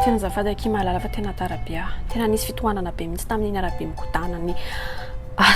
Tena azafady akia mahalala fa tena tara be ah. Tena nisy fitohanana be mihitsy tamin'iny arabe migodana ny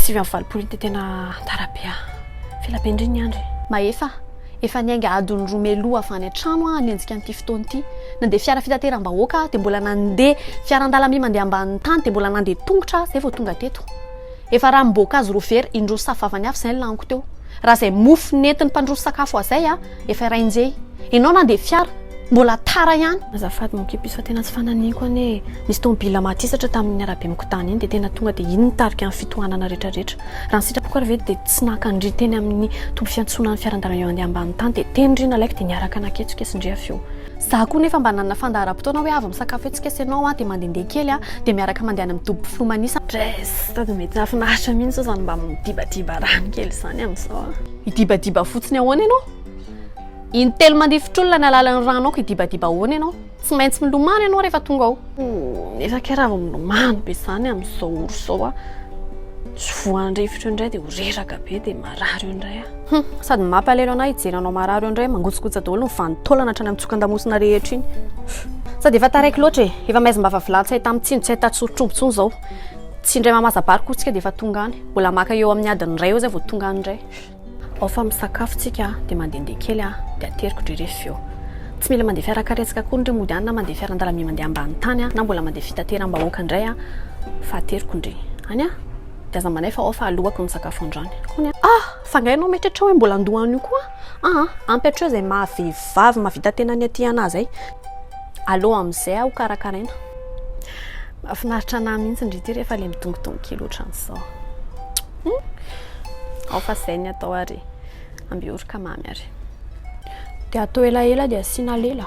sivy amby valopolo iny dia tena tara be ah. F'ela be ndry ny andry. Mahefa, efa niainga adiny roa mialoha avy any an-trano aho hanenjika an'ity fotoana ity. Nandeha fiara fitateram-bahoaka aho dia mbola nandeha fiaran-dalamby mandeha ambanin'ny tany dia mbola nandeha tongotra aho izay vao tonga teto. Efa ranom-boankazo roa vera indroa sy safo vavany avy izay ny laniko teo. Raha izay mofo nentin'ny mpandroso sakafo ahy izay, Efa iray nje enao na dia fiara mbola tara ihany. Azafady mon kipis fa tena tsy fananiko anie e! Nisy tomobila maty hisatra tamin'iny arabe mikotana iny dia tena tonga dia iny nitarika ny fitohanana retraretra. Raha ny sitrapoko ary ve dia tsy naka ndry teny amin'ny toby fiantsonan'ny fiaran-dalana eo andeha ambany tany dia teny ndry nalaiko dia niaraka naketsoketsy ndry avy eo. Za koa nefa mba nanana fandaharam-potoana hoe avy misakafo etsiketsy enao aho dia mandehandeha kely aho dia miaraka mandeha any amin'ny toby mpilomanisa. Dres! Sady mety nahafinaritra mihitsy zao zany mba midibadiba rano kely zany amin'izao a! Hidibadiba fotsiny ahoana ianao? Intelo mandifotr'olona ny alalan'ny rano aoka hidibadiba ahoana ianao? Tsy maintsy milomano ianao rehefa tonga ao. Nefa kay raha vao milomano be izany amin'izao ora izao a, tsy voan-drivotra eo indray dia ho reraka be dia marary eo indray a! Hum, sady mampalelo an'ahy hijery anao marary eo indray, mangotsokotsa daholo ny vanin-taolana hatrany amin'ny tsokan-damosina rehetra iny. Sady efa taraiky loatra e! Efa maizim-bava vilany tsy ahita mitsino, tsy ahita tsorotr'omby intsony izao. Tsy indray mamazabary koa tsika dia efa tonga any. Mbola maka eo amin'ny adiny iray eo izay vao tonga any indray. Ao fa misakafo tsika dia mandehandeha kely aho dia ateriko dry rehefa eo. Tsy mila mandeha fiara karetsaka akory ndry mody any na mandeha fiarandalamby mandeha ambany tany na mbola mandeha fitateram-bahoaka indray aho fa ateriko ndry any aho dia aza manaifa ao fa alohako ny sakafo androany. Kony a! Ah! Fa nga ianao mieritreritra hoe mbola handoa an'io koa? Aa! Ampy hatreo izay maha vehivavy mahavita tena ny aty anah izay. Aleo amin'izay aho karakaraina. Mahafinaritra anah mihitsy ndry ity rehefa ilay midongidongy kely ohatran'izao. Humm! Ao fa izay ny atao ary. Amby oroka mamy ary. Dia atao elaela dia asiana lela.